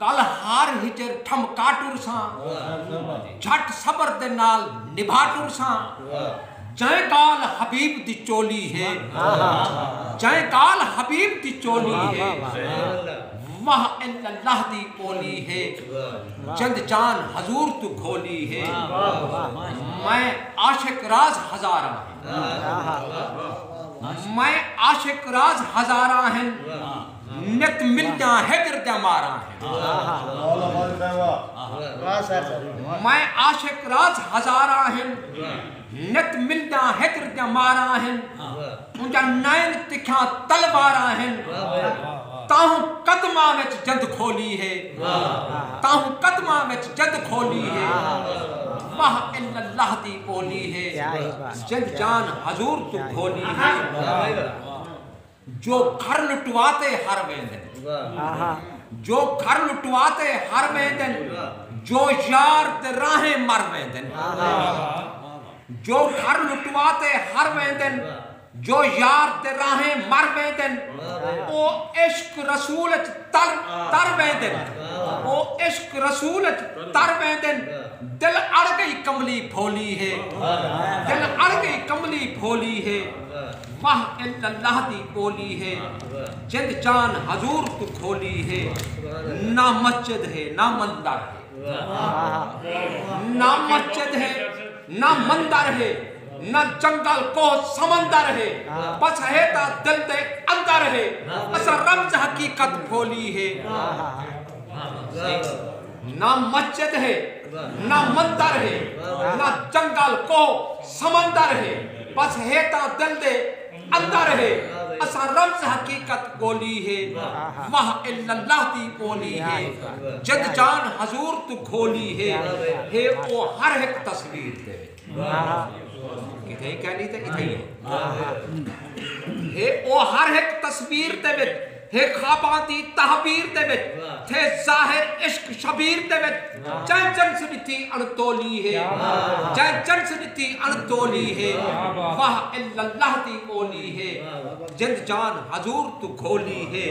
کل ہار ہجر ٹھمکا ٹرساں جھٹ صبر دے نال نبھا ٹرساں جئیں کال حبیب دی چولی ہے جئیں کال حبیب دی چولی ہے واہ الا اللہ دی اولی ہے جند جان حضور تو گھولی ہے میں عاشق راز ہزاراں ہیں میں عاشق راز ہزاراں ہیں نت ملداں ہجر دیاں ماراں ہیں میں عاشق راز ہزاراں ہیں نت ملداں ہجر دیاں ماراں ہیں انجا نائن تکھاں تلواراں ہیں تاہوں قدمہ میں جد کھولی ہے تاہوں قدمہ میں جد کھولی ہے ماہ اللہ دی اولی ہے جن جان حضور تو کھولی ہے جو گھر لٹوا تے ہر ویندن۔ جو گھر لٹوا تے ہر ویندن۔ جو یار تے راہیں مر ویندن۔ جو گھر لٹوا تے ہر ویندن۔ جو یار تے راہیں مر ویندن۔ او عشق رسول اچ تر تر ویندن۔ او عشق رسول اچ تر ویندن۔ دل اڑ گئی کملی بھولی ہے۔ دل اڑ گئی کملی بھولی ہے۔ ماہ الا اللہ دی کولی ہے جند جان حضور توں کھولی ہے نہ مسجد ہے نہ مندر ہے نہ مسجد ہے نہ مندر ہے نہ جنگل کوہ سمندر ہے بس ہے تا دل دے اندر ہے اسا رمز حقیقت کھولی ہے نہ مسجد ہے نہ مندر ہے نہ جنگل کو سمندر ہے بس ہے تا دل دے اندر ہے اسا رمز حقیقت کولی ہے واہ الا اللہ دی اولی ہے جد جان حضور تو کھولی ہے ہے او ہر ہک تصویر دے کتھئی کہنی تے کتھئی ہے او ہر ہک تصویر دے وچ ہے خواباں دی تحبیر دے وچ تھے ظاہر عشق شبیر دے وچ چن چن سنتی اڑ تولی ہے چن چن سنتی اڑ تولی ہے واہ الا اللہ دی اولی ہے جند جان حضور تو کھولی ہے